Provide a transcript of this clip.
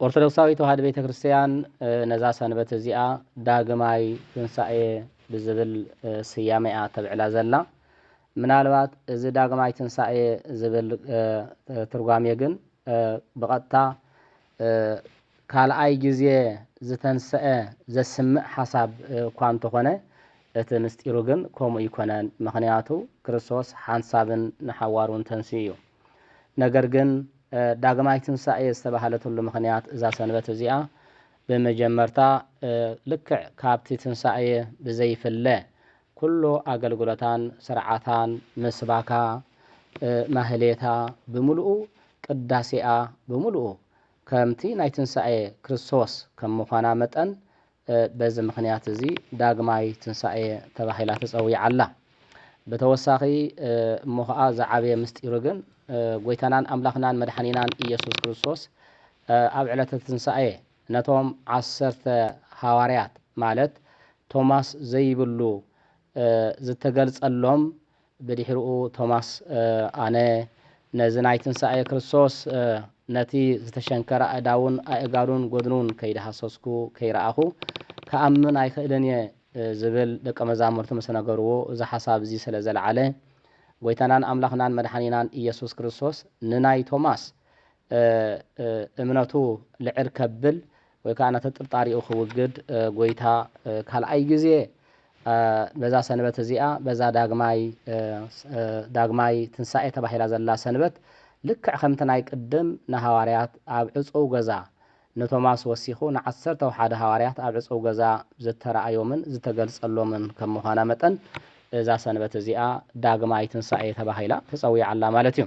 ኦርቶዶክሳዊት ተዋህዶ ቤተ ክርስቲያን ነዛ ሰንበት እዚኣ ዳግማይ ትንሳኤ ብዝብል ስያመ እያ ተብዕላ ዘላ። ምናልባት እዚ ዳግማይ ትንሳኤ ዝብል ትርጓሜ ግን ብቐጥታ ካልኣይ ግዜ ዝተንሰኣ ዘስምዕ ሓሳብ እኳ እንተኾነ እቲ ምስጢሩ ግን ከምኡ ኣይኮነን። ምኽንያቱ ክርስቶስ ሓንሳብን ንሓዋሩን ተንሲኡ እዩ። ነገር ግን ዳግማይ ትንሣኤ ዝተባህለትሉ ምኽንያት እዛ ሰንበት እዚኣ ብመጀመርታ ልክዕ ካብቲ ትንሣኤ ብዘይፍለ ኩሉ ኣገልግሎታን ሥርዓታን ምስባካ ማኅሌታ ብምሉኡ ቅዳሴኣ ብምሉኡ ከምቲ ናይ ትንሣኤ ክርስቶስ ከም ምዃና መጠን በዚ ምኽንያት እዚ ዳግማይ ትንሳኤ ተባሂላ ተጸዊዓ ኣላ። ብተወሳኺ እሞ ኸኣ ዝዓበየ ምስጢሩ ግን ጎይታናን ኣምላኽናን መድሓኒናን ኢየሱስ ክርስቶስ ኣብ ዕለተ ትንሳኤ ነቶም ዓሰርተ ሃዋርያት ማለት ቶማስ ዘይብሉ ዝተገልጸሎም ብድሕሪኡ ቶማስ ኣነ ነዚ ናይ ትንሳኤ ክርስቶስ ነቲ ዝተሸንከረ ኣእዳዉን ኣእጋሩን ጎድኑን ከይደሃሰስኩ ከይረኣኹ ክኣምን ኣይኽእልን እየ ዝብል ደቀ መዛሙርቱ ምስ ነገርዎ እዚ ሓሳብ እዚ ስለ ዘልዓለ ጎይታናን ኣምላኽናን መድሓኒናን እየሱስ ክርስቶስ ንናይ ቶማስ እምነቱ ልዕል ከብል ወይ ከኣ ነቲ ጥርጣሬኡ ክውግድ ጐይታ ካልኣይ ግዜ በዛ ሰንበት እዚኣ በዛ ዳግማይ ዳግማይ ትንሳኤ ተባሂላ ዘላ ሰንበት ልክዕ ከምቲ ናይ ቅድም ንሃዋርያት ኣብ ዕጹው ገዛ ንቶማስ ወሲኹ ንዓሰርተው ሓደ ሃዋርያት ኣብ ዕጹው ገዛ ዝተራእዮምን ዝተገልጸሎምን ከም ምዃና መጠን እዛ ሰንበት እዚኣ ዳግማይ ትንሳኤ ተባሂላ ተጸዊዓ ኣላ ማለት እዩ።